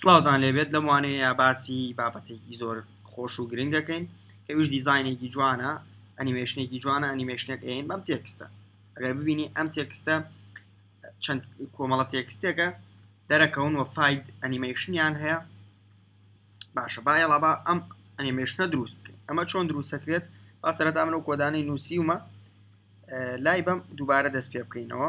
سلاوتان لێبێت لەم وانەیە باسی بابەتێکی زۆر خۆش و گرنگ دەکەین کەویش دیزینێکی جوانە ئەنیمێشنێکی جوانە ئەنیمێشنێک ئەین بەم تێکستە ئەگەر ببینی ئەم تێکستە چەند کۆمەڵە تێکستێکە دەرەکەون و فاید ئەنیمێشنیان هەیە باشە با ئێڵابا ئەم ئەنیمێشنە دروست بکەین ئەمە چۆن دروستەکرێت با سەرەتا من و کۆدانەی نووسیومە لای بەم دووبارە دەست پێ بکەینەوە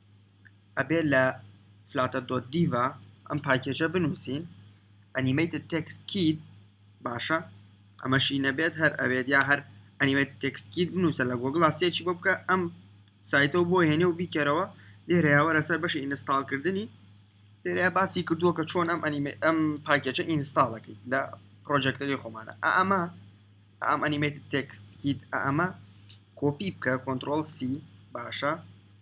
ئەبێت لە فلاتەر دۆت دیڤا ئەم پاکێجە بنووسین ئەنیمەیت تێکست کیت باشە ئەمەشی نەبێت هەر ئەوێت یا هەر ئەنیمەیت تێکست کیت بنووسە لە گۆگڵا سێکی بۆ بکە ئەم سایتەوە بۆ هێنێ و بیکەرەوە لێرەیاوە لەسەر بەشی ئینستاڵکردنی لێرە باسی کردووە کە چۆن ئەم ئەنیمە ئەم پاکێجە ئینستاڵەکەیت لە پرۆژێکتەکەی خۆمانە ئەمە ئەم ئەنیمەیت تێکست کیت ئەمە کۆپی بکە کۆنتترۆل سی باشە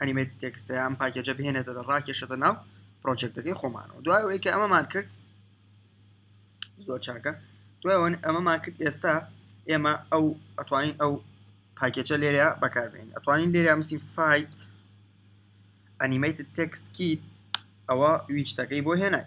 ئەنیمێت تێکستە ئەم پاکێجە بهێنێتە ڕاکێشەتە ناو پرۆژێکتەکەی خۆمانەوە دوای ئەوەی کە ئەمەمان کرد زۆر چاکە دوای ئەمەمان کرد ئێستا ئێمە ئەو ئەتوانین ئەو پاکێجە لێرە بەکاربێن ئەتوانین لێرە مسی فیت ئەنیمیت تێکست کیت ئەوە ویچتەکەی بۆ هێنای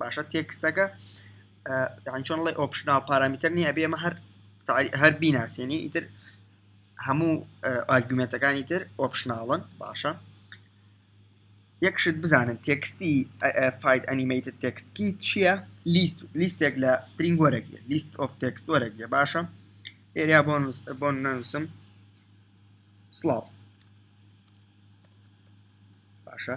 باشە تێکستەکە یان چۆن ڵێ ئۆپشنال پارامیتر نییە ئەبێ ئەمە هەر هەر بیناسیێنی ئیتر هەموو ئارگومنتەکانی تر ئۆپشناڵن باشە یەکشت بزانن تێکستی فیت ئەنیمەیتد تێکست کی چییە لیست لیستێک لە سترینگ وەرەگرێ لیست ئۆف تێکست وەرەگرێ باشە ئێریا بۆنس بۆن نووسم سلااو باشە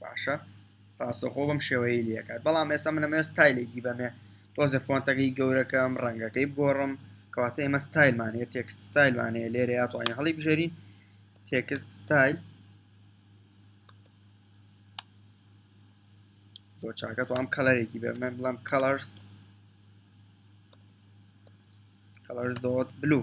باشە ڕاستەخۆ بەم شێوەیە لەکات بەڵام ئێستا منەمە ستایلێکی بەمێ تۆزە فۆنتەکەی گەورەکەم ڕەنگەکەی بگۆڕم کەواتە ئێمە ستایلمانەیە تێکست ستایلمانەیە لێرە یاتوانین هەڵی بژێرین تێکست ستایل زۆر چاکە تو ئەم کەلەرێکی بێ من بڵم کەلەرس کەلەرس دۆت بلو